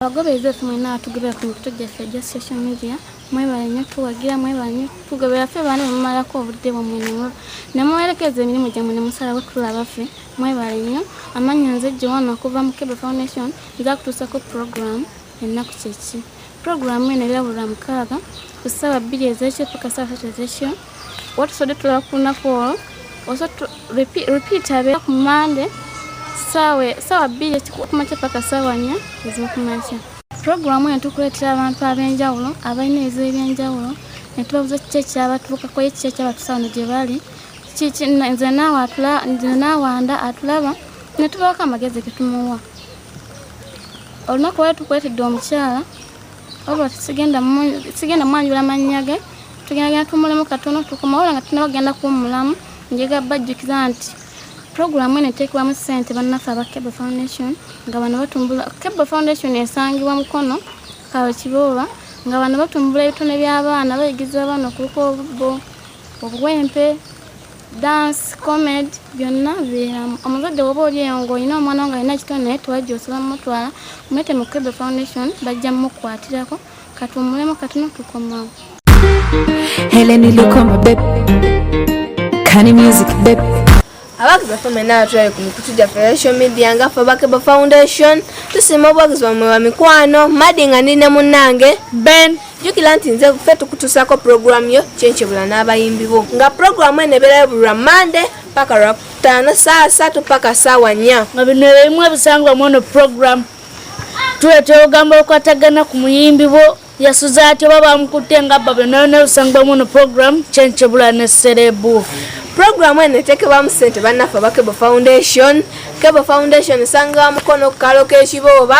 abagoberezi baffe mwena batugobera ku mikutu gyaffe egya social media mwebale nyo tuwagira mwebale nyo tugobera ffe baana bemumalako obudde bwamwe nemuwerekeza emirimu gyamwe nemusalawo tulaba ffe mwebale nyo amannya nze joana okuva mu kebe foundation nza kutuusako program ennaku kyeki program eno erabulwa mukaaga ku ssaawa bbiri ezekyo paka ssaawa satu ezekyo watusodde tulaba ku lunaku olwo oso repeat abeera ku mande saawa bbiri ekikumakya paka saawa nnya ezokumakya puroguramu eno tukuleetera abantu ab'enjawulo abalina ebizibu eby'enjawulo ne tubabuza kiki ekyabatuukako ye kiki ekyabatusawo no gye bali nze naawanda atulaba ne tubaako amagezi ge tumuwa olunaku wali tukuleetedde omukyala oba sigenda sigenda mwanjula mannya ge tugenda genda tumulemu katono tukomawola nga tunaba kugenda kuwumulamu njega bajjukiza nti puroguramu eno eteekebwamu ssente bannaffe aba cable foundation nga bano batumbula cable foundation esangibwa mukono kawe kibooba nga bano batumbula ebitone by'abaana bayigiriza abaana okubuka obubbo obuwempe dance comed byonna bibeeramu omuzadde woba oli eyo ngaolina omwana wo nga alina ekitone naye tewajja osobola mumutwala mulete mu kebe foundation bajja mumukwatirako katuwumulemu katono tukomawo heleni lukoma beb kani music beb abawagizi baffe mwena atulabe ku mikutu gyaffe social media nga ffe bakeba foundation tusiima obuwagizi bwamwe bamikwano madi nga ndi ne munnange ben jjukira nti nze ffe tukutuusaako pulogulaamu yo kyenkyebula n'abayimbi bo nga pulogulaamu eno ebeerayo buli lwa mande paka lwa kutaano saawa satu paka saawa nnya nga bino ebimu ebisangwa mu ono pulogulaamu tuwe twogamba okwatagana ku muyimbi bo yasuza atya oba bamukutte nga bba byonayona ebisangwa mu ono pulogulaamu kyenkyebula ne serebu pulogulaamu eno eteekebwamu ssente bannaffe aba kebo foundation kebo foundation esangawa mukono ku kaalo k'ekibooba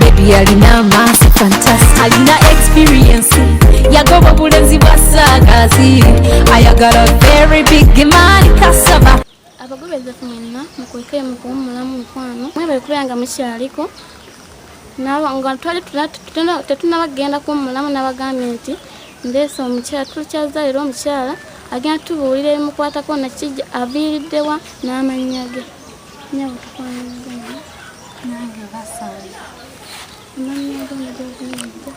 Baby alina amaaso fantastic alina experience yagoba obulenzi bwa saagazi ayagala very big man kasaba abagobezafu mwenna mukwekere mu kuwummulamu mukwano mwebale kubeera nga mukyaliko nga twali tetunaba kugenda kuwummulamu n'abagambye nti ndeesa omukyala tukyaza leero omukyala agenda tubuulira ebimukwatako nakijja aviiriddewa n'amannya ge nyabo tukwanagana nange basale amannya go nagyoviiridde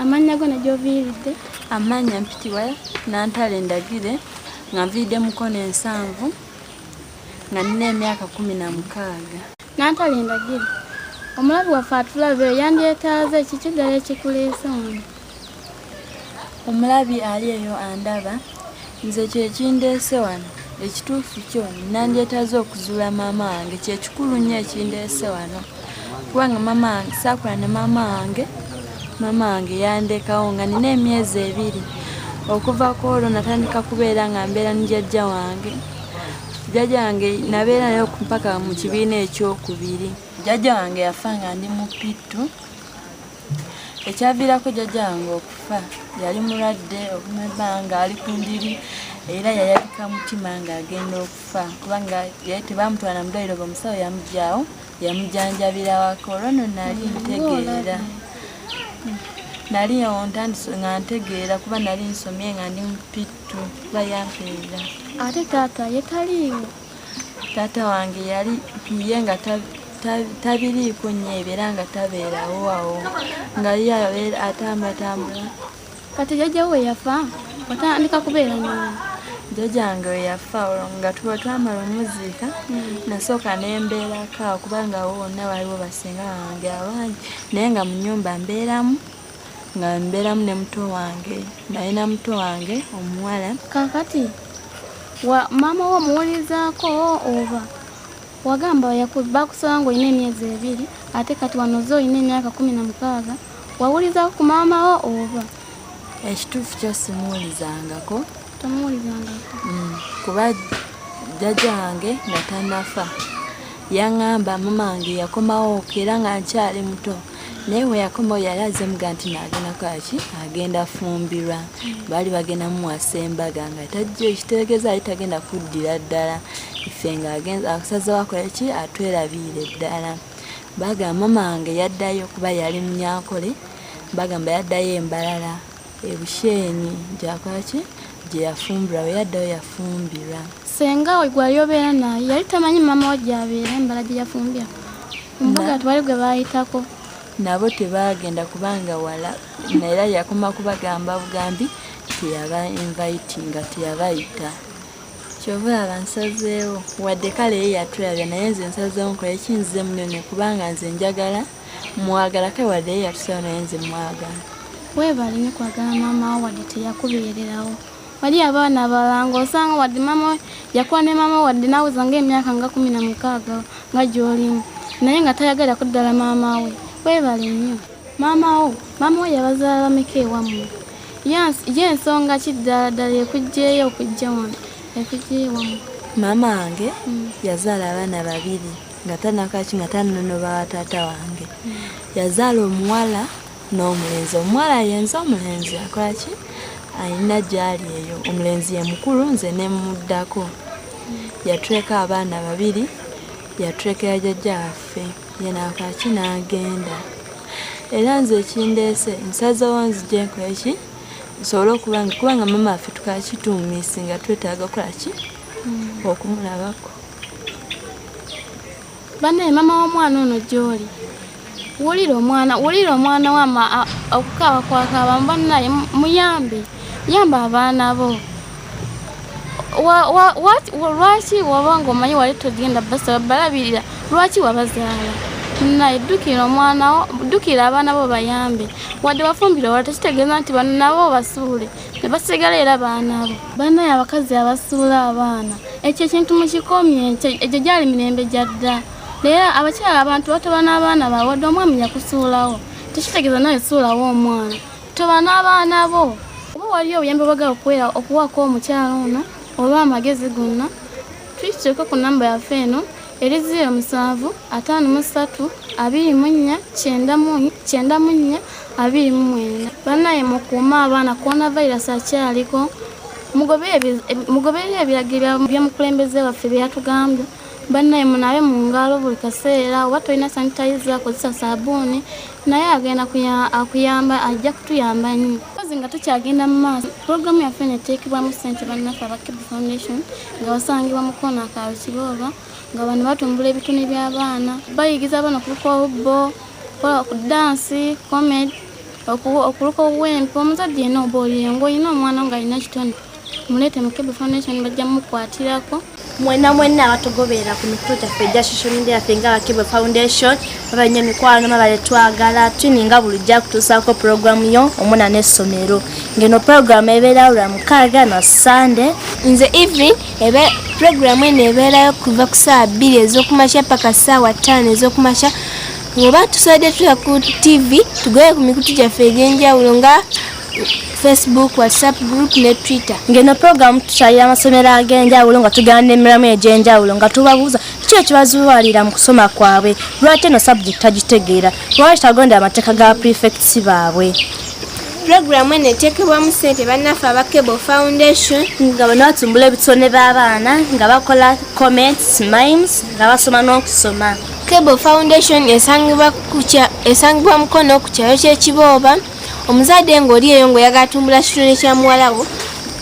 amannya go nagyoviiridde amannya mpitibwa nantale ndagire nga nviidde mukono ensanvu nga nina emyaka kumi na mukaaga nantale ndagire omulabi waffe atulabeyo yandyetaaze ekikiddala ekikuleesa ono omulabi ali eyo andaba nze kyekindeese wano ekituufu kyo nandyetaze okuzuula maama wange kyekikulu nnyo ekindeese wano kubanga maama wange saakula ne maama wange maama wange yandekawo nga nina emyezi ebiri okuva ku olwo natandika kubeera nga mbeera ne jajja wange jajja wange nabeera nayo mpaka mu kibiina ekyokubiri jajja wange yafa nga ndi mupittu ekyaviirako jjajja wange okufa yali mulwadde okuma ebbanga ali ku ndiri era yayabika mutima ng'agenda okufa kubanga yali tebamutwala mu ddwaliro bamusawo yamugyawo yamujanjabira waka olwo no nali ntegeera nali ontandise nga ntegeera kuba nali nsomye nga ndi mupittu bayampeera ate taata yetaliiwo taata wange yali ye nga tabiriiko nnyo ebyo era nga tabeerawo awo nga ye atambatambula kati jajjawo weyafa watandika kubeera nyomu jjajange weyafa nga tuba twamala omuziika hmm. nasooka nembeerako kubanga wo wonna waliwo basinga wange abangi naye nga mu nyumba mbeeramu nga mbeeramu ne muto wange nalina muto wange omuwala kakati wa maama wo omuwulizaako oba wagamba bakusaba nga olina emyezi ebiri ate kati wanoze olina emyaka kumi na mukaaga wawulizaako ku maama wo oba ekituufu kyo simuwulizangako tomuwulizangako mm, kuba jjajja wange nga tanafa yaŋŋamba mamange yakomawo era nga nkyali muto naye weyakoma oyo yali aze muga nti nagenda kwaki agenda fumbirwa baali bagenda mumuwasa embaga nga tajja ekitegeeza ali tagenda kuddira ddala ife nga asaze wakola ki atwerabiire ddala bagamba mama wange yaddayo kuba yali munyankole bagamba yaddayo embalala ebushenyi gyakwaki gyeyafumbirwa weyaddayo yafumbirwa senga gwali obeera naye yali tamanyi mama wa gyabeera embala gyeyafumbirwa mbuga tewali gwe baayitako nabo tebaagenda kubanga wala naera yakoma kubagamba bugambi teyaba invitinga teyabayita kyova laba nsazeewo wadde kale ye yatulabya naye nze nsazeewo nkola ekinzize munene kubanga nze njagala mwagala kale wadde ye yatusawo naye nze mwagala weebale nyo kwagala maama wo wadde teyakubeererawo wali abaana abalala ng'osanga wadde maama yakuwa ne maama wadde naweza ng'emyaka nga kumi na mukaaga nga gy'olimu naye nga tayagala kuddala maama we webale nnyo maama wo maama we yabazaala bameka ewammwe ye ensonga ki ddala ddala ekugjeyo okujja wano ekugjeyo ewammwe maama wange mm. yazaala abaana babiri nga tanakaki nga tanonoba wa taata wange mm. yazaala omuwala n'omulenzi omuwala yenze omulenzi akolaki alina gyali eyo omulenzi yemukulu nze nemuddako yatuleka abaana babiri yatulekera jajja waffe yenakolaki n'agenda era nze ekindeese nsazewo nzijenko eki nsobole okuba nga kuba nga mama waffe tukaki tumisi nga twetaaga okolaki hmm. okumulabako banaye mama womwana ono gyoli wulira omwana wulira omwana wama okukaaba kwakaaba banaye muyambe yamba abaana bo lwaki waba nga omanyi wali togenda basaba balabirira lwaki wabazaala naye ddukira omwana wo ddukira abaana bo bayambe wadde wafumbira wala tekitegeeza nti bano nabo basuule ne basigala era baana bo banaye abakazi abasuula abaana ekyo ekintu mukikomye egyo gyali mirembe gya dda naye abakyala abantu batoba n'abaana bawe wadde omwami yakusuulawo tekitegeeza nawe suulawo omwana toba n'abaana bo oba waliyo obuyambi obagala okuwako omukyala ono oba amagezi gonna Tukikyuka ku namba yaffe eno eri ziiro musanvu ataano mu ssatu abiri mu nnya kyenda mu nnya abiri mu mwenda bannaye mukuume abaana coronavirus akyaliko mugoberera ebiragiro byomukulembeze waffe bye yatugambye bannaye munabe mu ngalo buli kaseera oba tolina sanitayiza akozesa sabuuni naye agenda akuyamba ajja kutuyamba nnyo kozi nga tukyagenda mu maaso pulogulaamu yaffe neteekebwamu ssente bannaffe aba kibu foundation nga basangibwa mu koona ka Rukibooba nga bano batumbula ebitone by'abaana bayigiriza abaana okuluka obubbo okukola ku dansi komed okuluka obuwempe omuzadde yena oba oli engo olina omwana nga alina kitone muleete mu kebe foundation bajja mukwatirako mwena mwena abatugoberera ku mikutu gyaffe egya social media yaffe nga abakebe foundation baba nnyo mikwano baba letwagala tuninga bulijja kutuusaako pulogulaamu yo omuna n'essomero ngeno pulogulaamu ebeerawo lwa mukaaga na sande nze evelyn ebe pulogulaamu eno ebeerayo kuva ku saawa bbiri ez'okumakya paka saawa ttaano ez'okumakya oba tusobodde tuya ku tv tugoye ku mikutu gyaffe egy'enjawulo nga facebook whatsapp group ne twitter ngeno pulogulaamu tukyalira amasomero ag'enjawulo nga tugenda n'emiramu egy'enjawulo nga tubabuuza kiki ekibazuwalira mu kusoma kwabwe lwaki eno subject tagitegeera lwaki tagondera amateeka ga prefects baabwe pulogulaamu eno eteekebwamu ssente bannaffe aba cable foundation nga bano batumbula ebitone b'abaana nga bakola comments mimes nga basoma n'okusoma cable foundation esangibwa mukono ku kyalo ky'ekibooba omuzadde ng'oli eyo ng'oyagala tumbula kitone kya muwalawo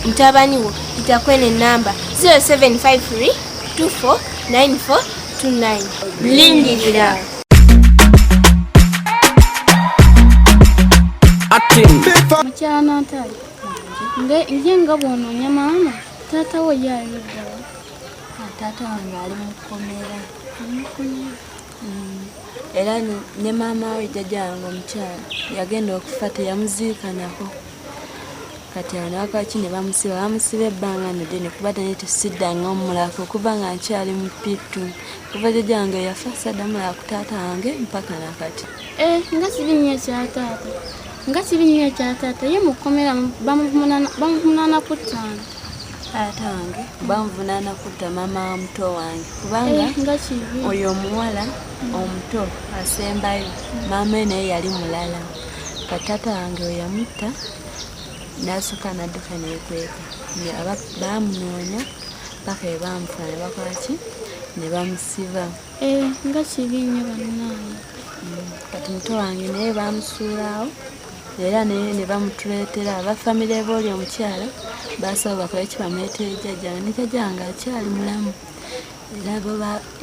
mutabani wo itakwene ennamba 0753 249429 lindirira mukyana ntale nje nga bwononya maama taata wo yayogala ah, taata wange ali mukomera mm. era ne maama we jjajja wange omukyala yagenda okufa teyamuziikanako kati anawakaki ne bamusiba bamusiba ebbanga nedene kuba naye tesidanga omulaka okuva nga nkyali mupitu kuva jjajja wange yafa sadamulaka ku taata wange mpaka nakati eh, nga kibi nnyo ekya taata nga kibi nnyo ekya taata ye mu kkomera bamuvumunana ku ttaano taata wange banvunaana kutta maama wa muto wange kubanga eh, oyo omuwala omuto asembayo maama e naye yali mulala ka taata wange weyamutta nasooka nadduka nekweka bamunoonya paka ebamufa ne bakwaki ne bamusiba eh, nga kibi nnyo bannange mm, kati muto wange naye bamusuulaawo era naye ne bamutuleetera aba famire booli omukyala baasaba bakole ki bamuleetere jjajja ne jjajja nga akyali mulamu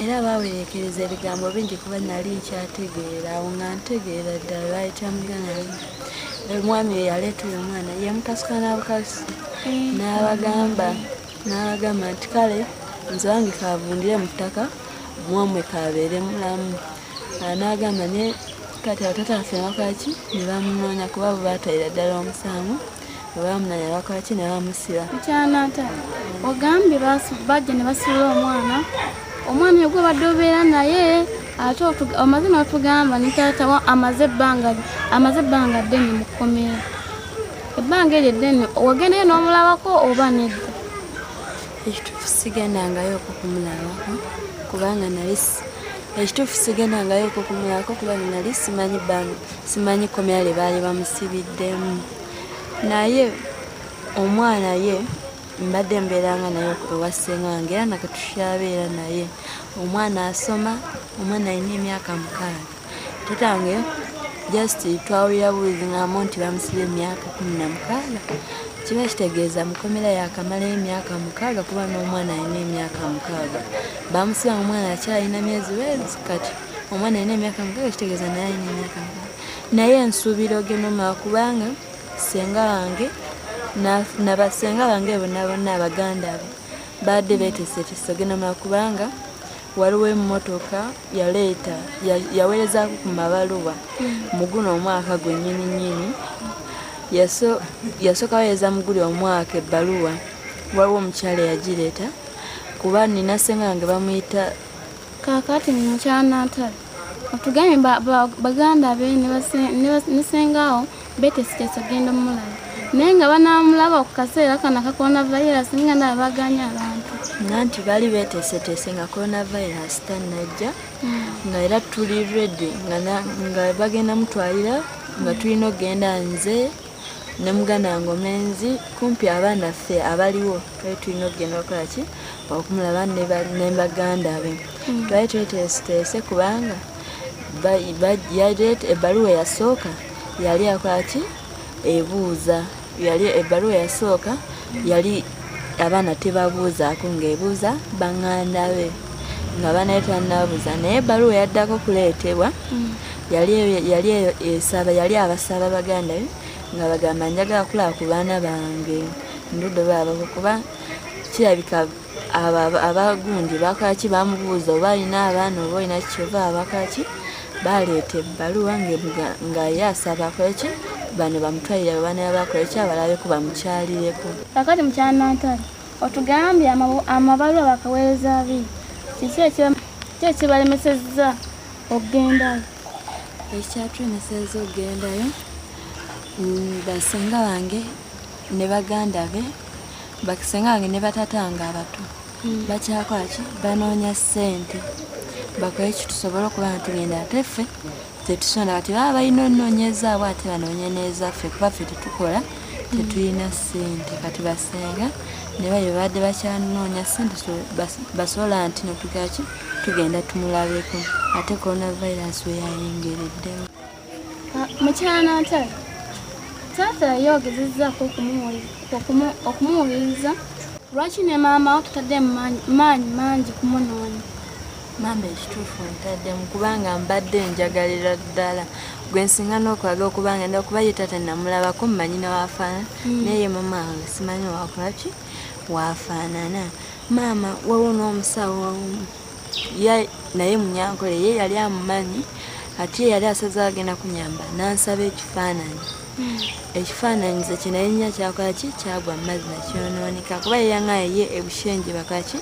era baawerekereza ebigambo bingi kuba nali nkyategeera awo nga ntegeera ddala lwali kyamuganayo omwami oyo yaleeta oyo omwana yamukasuka n'abukasi n'abagamba n'abagamba nti kale nze wange kavundire mu ttaka mwamwe kabeere mulamu n'agamba ne kati abatata baffe bakaki ne bamunoonya kuba bwe baatayira ddala omusango bwe bamunoonya bakaki ne bamusiba ekyanata ogambye bajja ne basuula omwana omwana yegwe badde obeera naye ate omaze n'otugamba ne taata amaze ebbanga amaze ebbanga ddene mu kkomera ebbanga eryo eddene wagendeyo n'omulabako oba nedda ekituufu sigendangayooko kumulabako kubanga nali ekituufu sigendangayooko kumulabako kubanga nali simanyi bano simanyi komera lye baali bamusibiddemu naye omwana ye mbadde mbeeranga naye ewa ssenga wange era nakatushabeera naye omwana asoma omwana alina emyaka mukaaga kitange just twawulira buwuzi ng'amu nti bamusiba emyaka kumi na mukaaga kiba kitegeeza mukomera yakamala emyaka mukaaga kuba n'omwana alina emyaka mukaaga bamusiba nga omwana akyalina myezi wezi kati omwana alina emyaka mukaaga kitegeeza naye alina emyaka mukaaga naye ensuubira ogenoma kubanga senga wange nabasenga bange bonabona abaganda be baadde betesetese ogenoma kubanga waliwo emmotoka yaleeta yaweerezaako ku mabaluwa mu guno omwaka gwe nyini nyini yasooka weereza mu guli omwaka ebbaluwa waliwo omukyala eyagireeta kuba nina senga yange bamuyita kakati mukyala natale otugambye baganda be ne sengaawo Betty Siteso genda omulaba naye nga banaamulaba ku kaseera kano aka coronavirus nga ndaba baganya abantu nga nti bali beteeseteese nga coronavirus tannajja hmm. nga era tuli redi nga bagenda mutwalira nga tulina okugenda nze ne muganda wange omenzi kumpi abaana ffe abaliwo twali tulina okugenda okukola ki okumulaba ne baganda be hmm. twali tweteeseteese kubanga ebbaluwa eyasooka yali akola ki ebuuza yali ebbaluwa yasooka yali abaana tebabuuzaako ng'ebuuza baŋŋanda be nga banaye tanabuuza naye ebbaluwa yaddako okuleetebwa mm. yali eyo esaba yali abasaba baganda be nga bagamba njagala kulaba ku baana bange ndudo baabako kuba kirabika abo abagundi bakaki bamubuuza oba alina abaana oba olina kikyova abakaki baleeta ebbaluwa nga ye asaba kweki bano bamutwalire abaana yabakoleki abalabeko bamukyalireko kakati mukyanantale otugambye amabaluwa bakaweereza bi kiki ekibalemesezza okugendayo ekyatulemeseza okugendayo mm, basinga wange ne baganda be bakisenga wange ne batata nga abato hmm. bakyakola ki banoonya ssente bakole ki tusobole okuba nga tugenda ate ffe tetusonda kati baba balina onoonyezaabwe ate banoonye n'ezaffe kuba ffe tetukola hmm. tetulina ssente kati basenga ne baye babadde bakyanoonya ssente basobola nti notugaki tugenda tumulabeko ate coronavirus weyayingereddemu Ah, mukyala natale taata yayogezezzaako okumuwuliriza lwaki ne maama wo tutadde maanyi mangi kumunoonya maama ekituufu ntaddemu kubanga mbadde njagalira ddala gwe nsinga n'okwagala okuba nga nda kuba ye taata namulabako mumanyi newafaana hmm. naye maama wange simanyi wakolaki wafaanana maama wawo n'omusawo wawomu naye munyankole ye yali amumanyi ati ye yali asaze agenda kunyamba nansaba ekifaananyi hmm. ekifaananyi ze kye naye nya kyakolaki kyagwa mumazzi nakyonooneka kuba yeyaŋaye ye ebushenje bakaki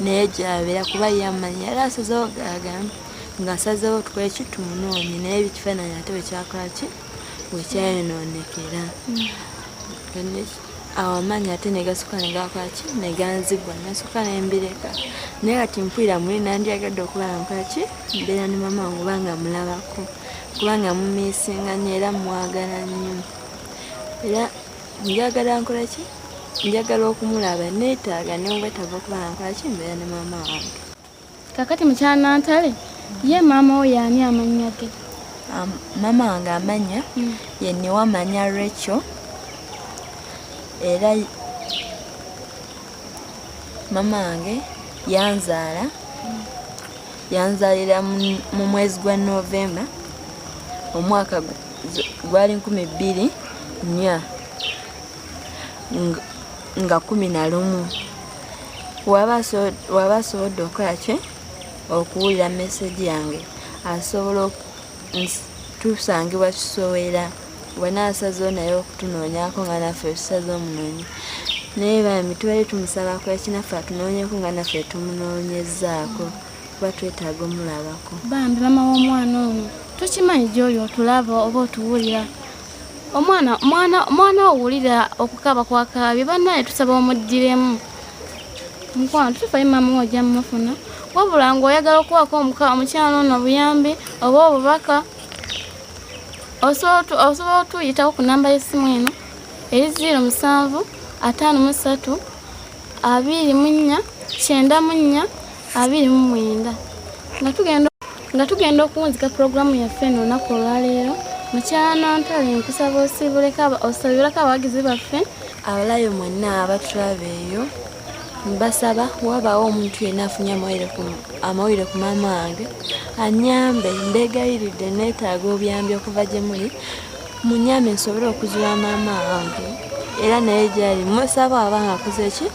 naye gyabeera kuba ye amanyi yali asazewo gagamba nga asazewo tukoleki tumunoonye naye ebikifaananyi ate wekyakolaki wekyayonoonekera hmm. awo amaanyi ate negasuka negakwaki neganzigwa nasuka nembireka naye kati mpulira muli nandyagadde okuba nkwaki mbeera ne mama wange obanga mulabako kubanga mumisinga nyo era mwagala nnyo era njagala nkola ki njagala okumulaba neetaaga newetava okuba nkwaki mbeera ne mama wange kakati mukyala nantale ye maama wo yaani amannya ge maama wange amannya hmm. ye newamanya recho era maama wange yanzaala hmm. yanzaalira mu mwezi gwa novemba omwaka gwali nkumi bbiri nya nga kumi na lumu waba asobodde okukola ki okuwulira mesegi yange asobola tusangibwa kisowera wenaasazewo naye okutunoonyako nga naffe tusaze omunoonyi naye bambi tubale tumusabako ekinaffe atunoonyeko nga naffe tumunoonyezaako kuba twetaaga omulabako bambi mama w'omwana ono tukimanyi gyoli otulaba oba otuwulira omwana mwana mwana owulira okukaba kwakaabye bannaye tusaba omugiremu mukwano tufayo maama ojja mumufuna wabula nga oyagala okuwaako omukyalo ono obuyambi oba obubaka osobola otuyitawo ku namba y'essimu eno eri ziiro musanvu ataano mu ssatu abiri mu nnya kyenda mu nnya abiri mu mwenda nga tugenda nga tugenda okuwunzika pulogulaamu yaffe eno olunaku olwaleero mukyala nantale nkusaba osabireko abawagizi baffe abalayo mwenna abatulaba eyo mbasaba wabaawo omuntu yenna afunye amawulire ku maama wange anyambe mbeegayiridde neetaaga obuyambi okuva gye muli munyambe nsobole okuzula maama wange era naye gyali musaba aba ngaakoze ki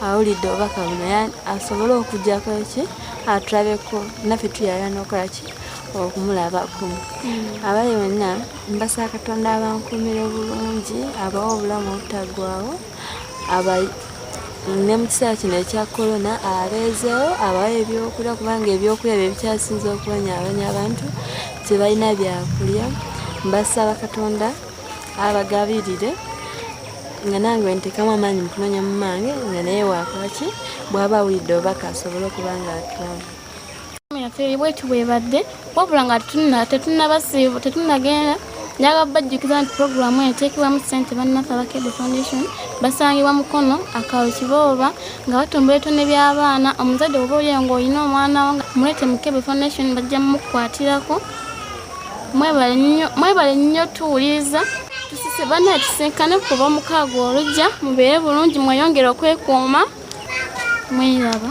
awulidde obubaka buno ya asobole okujjako ki atulabeko naffe tuyala nokola ki okumulabako hmm. abali bonna mbasa katonda abankumire obulungi abawo obulamu obutagwawo ne mu kiseera kino ekya korona abeezeewo abawa ebyokulya kubanga ebyokulya bye bikyasinza okubonyabonya abantu tebalina byakulya mbasaba katonda abagabirire nga nange wentekamu amaanyi mukunoonya mu mange nga naye wakwaki bwaba awulidde obubaka asobole okuba nga atulamu yaffe bweti bwebadde wabula nga tetunabasiibu tetunagenda njagala bajjukiza nti puroguramu eno eteekebwamu ssente bannaffe abakede foundation basangibwa mukono akaalo kibooba nga batumba ebitone by'abaana omuzadde oba olyeyo ng'olina omwana wo muleete mukebe foundation bajja mumukwatirako mwebale nnyo tuwuliriza tusise banna tusinkane kuba omukaago olujja mubeere bulungi mweyongere okwekuuma mwiraba